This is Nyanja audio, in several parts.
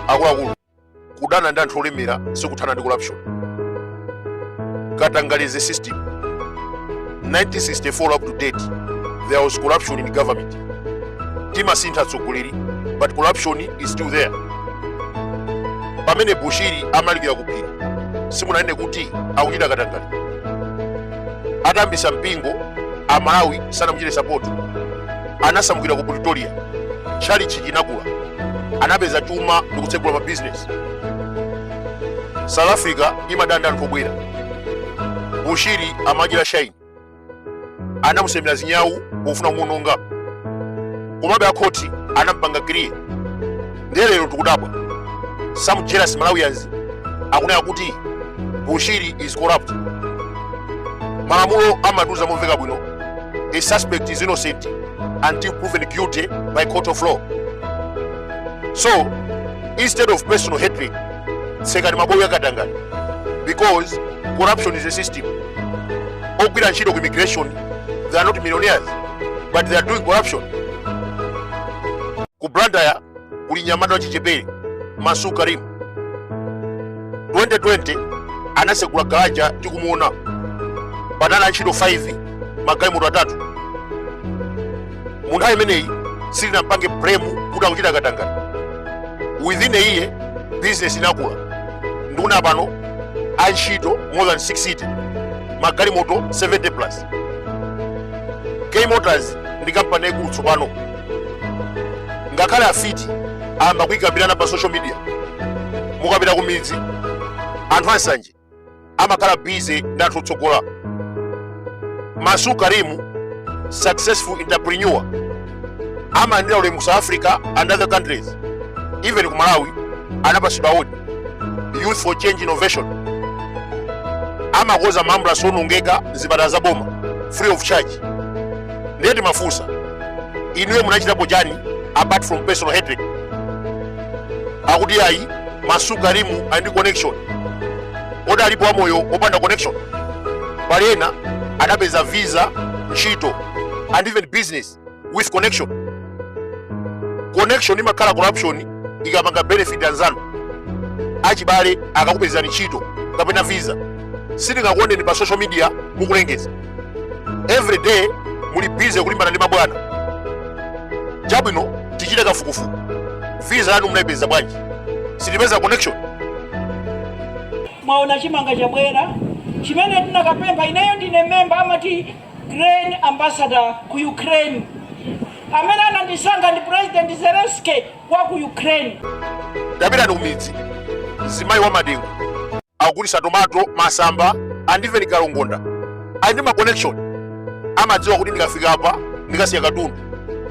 akuluakulu kudana ndi anthu olemera sikuthana ndi corruption katangale is a system 1964 up to date there was corruption in government timasintha atsogoleri but corruption is still there pamene bushiri amalalikira kuphiri simunanene kuti akuchita katangale atayambitsa mpingo amalawi sanamuchite sapoti anasamukira ku pretoria tchalichi chinakula anapeza chuma ndi kutsegula mabizinesi south africa imadana ndi anthu obwera bushiri amachita shaini anamusemera zinyawu pofuna kumuononga komabe akhoti anampanga clear ndiye lero tikudabwa some jealous malawians akunena kuti bushiri is corrupt malamulo amatiuza momveka bwino a suspect is innocent until proven guilty by court of law so instead of personal hatred tsekani mabowo a katangale because corruption is a system ogwira ntchito ku immigration they are not millionaires but they are doing corruption ku blantyre kuli mnyamata wachichepere masu karim 2020 anasegula garaja tikumuona panali antchito 5 magalimoto atatu munthawi imeneyi simunampange blame kuti akuchita katangale within a year business inakula ndikuona pano antchito more than 60 magalimoto 70 plus k motors ndi kampani yaikulu tsopano ngakhale afiti ayamba kuyikambirana pa social media mukapita ku midzi anthu ansanje amakhala bize ndi anthu otsogola masu karimu successful entrepreneur amayendera ulemu ku south africa and other countries even ku malawi anapatsidwa awodi youth for change innovation amakonza maambulasi owonongeka mzipatala za boma free of charge ndiye timafunsa inuyo munachitapo chani apart from personal hatred akuti ayi masu karimu ali ndi connection kodi alipo wamoyo opanda connection pali ena adapeza visa ntchito and even business with connection connection imakhala corruption ikapanga benefit anzanu achibale akakupezani ntchito kapena visa sitingakuoneni pa social media mukulengeza every day muli busy kulimbana ndi mabwana chabwino tichite kafukufuku visa yanu munaipeza bwanji sitipeza connection mwaona chimanga chabwera chimene tinakapempha ineyo ndine memba amati Grain Ambassador ku Ukraine. Amene anandisankha ndi President Zelensky wa ku Ukraine. Tapitani ku midzi. Zimayi wa madengu. Akugulisa tomato, masamba, and even kalongonda. Ali ndi ma connection. Amadziwa kuti ndikafika apa ndikasiya katundu.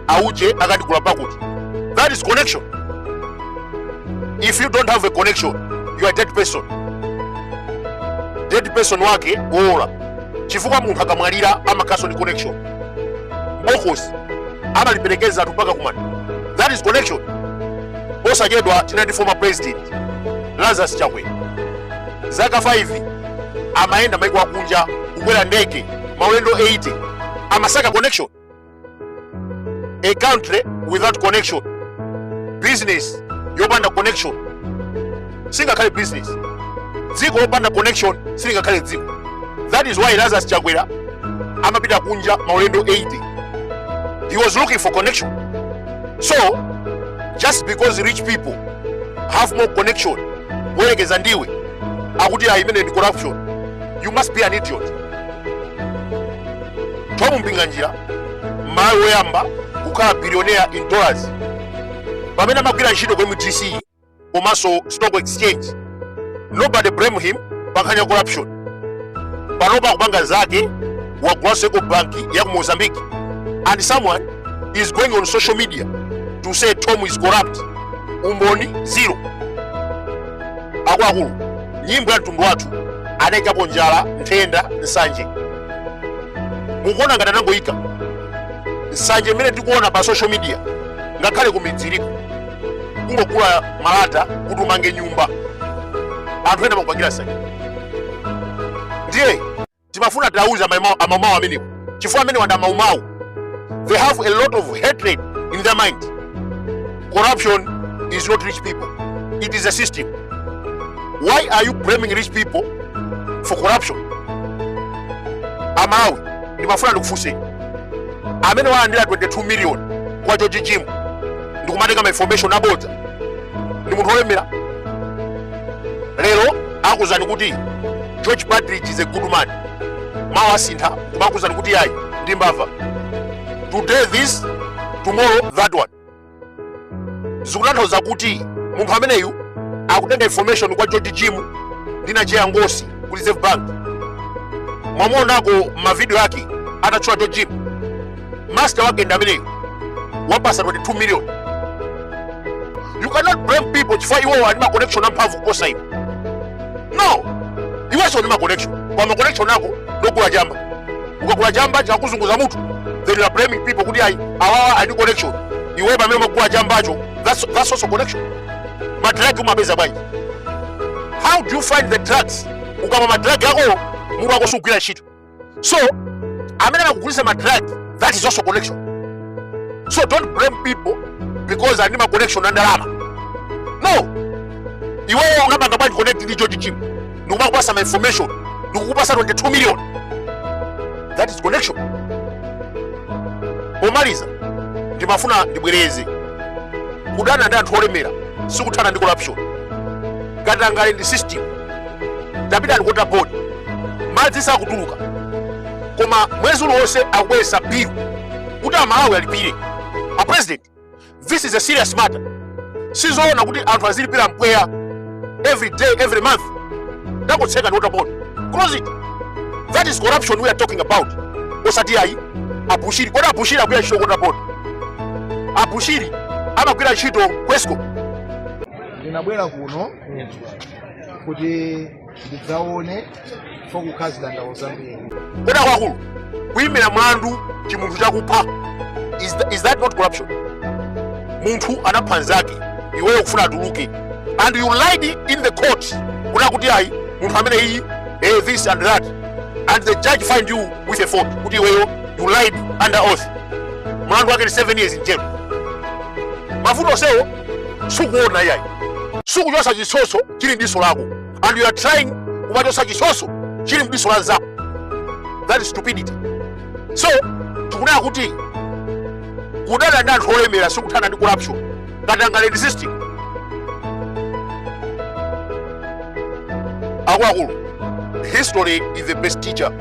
auje akandigula pakuti that is connection if you don't have a connection you are dead person dead person wake wowola chifukwa munthu akamwalira amakhaso ndi connection bokosi amaliperekeza anthu mpaka kumanda that is connection posachedwa tinali ndi former president lazarus chakwera zaka 5 amayenda maiko akunja kukwera ndege maulendo 80 amasaka connection a country without connection business yopanda connection singakhale business dziko lopanda connection silingakhale dziko that is why lazarus chakwera amapita kunja maulendo 80 he was looking for connection so just because rich people have more connection kuyerekeza ndi iwe akuti ayi imene ndi corruption you must be an idiot thom mpinganjira mmalawi woyamba kukhala billionaire in dollars pamene amagwira ntchito ku mdc komanso stock exchange nobody blame him pankhani ya corruption panopa akupanga zake wagulanso ecobank ya ku mozambique and someone is going on social media to say thom is corrupt umboni zero akuluakulu nyimbo ya mtundu wathu anaikapo njala nthenda nsanje mukuona ngati anangoyika nsanje imene tikuona pa social media ngakhale kumidzi iliko kungogula malata kuti umange nyumba anthu ena amakupangira nsanje ndiye timafuna tiwauze amaumawu amenewo chifukwa amenewa ndi amaumawu They have a lot of hatred in their mind. Corruption is not rich people, it is a system. Why are you blaming rich people for corruption? Amalawi, ndimafuna ndikufunseni amene walandira 22 million kwa George Jim ndikumatenga ma information abodza ndi munthu wolemera lero akuuzani kuti George Partridge is a good man mawa asintha kumakuuzani kuti yayi ndi mbava today this tomorrow that one zikutanthauza kuti munthu ameneyu akutenga information kwa george jim ndi nacheya ngosi ku reserve bank mwamuonako mavidiyo ake atatchula george jim master wake ndi ameneyo wapasa 22 million you cannot blame people chifukwa iwowo ali ma connection amphamvu kuposa iwe no iwenso ndi ma connection kwa ma connection ako nkogula chamba ukagula chamba chakuzunguza mutu then you are blaming people kuti ayi awawa ali ndi connection iwe pamene umagula chambacho that's also connection madrug umapeza bwanji how do you find the drugs ukamwa madrug ako mutu wako sugwira ntchito so amene akugulisa ma drug that is also connection so don't blame people because ali ndi ma connection a ndalama no iweyo unapanga bwanji connect ndi george jim ndikumakupasa ma information ndikukupasa 22 million that is connection pomaliza ndimafuna ndibwereze kudana ndi anthu olemera sikuthana ndi corruption katangale ndi system tapita ndi ku water board madzi sakutuluka koma mwezi uliwonse akubweretsa bill kuti amalawi alipire a president this is a serious matter sizoona kuti anthu azilipira mpweya every day every month ndi kotseka ndi water board close it that is corruption we are talking about osati ayi abushiri kodi abushiri akugwira ntchito ku water board abushiri amagwira ntchito ku escom ndinabwera kuno kuti ndidzaone pokukhala zidandawo zambiri kuda kwakulu kuyimira mlandu chimunthu chakupha is that not corruption munthu anapha nzake iweyo kufuna atuluke and you lied in the court kunama kuti ayi munthu ameneyi this and that and the judge find you with a fault kuti iweyo you lied under oath mlandu wake ni 7 years in jail mavuto sewo sukuona yayi sukuchosa chitsotso chili mdiso lako and you are trying kumachosa chitsotso chili mdiso la nzako that is stupidity so tikunena kuti kudana ndi anthu olemera sikuthana ndi corruption katangale ndi system akuluakulu history is the best teacher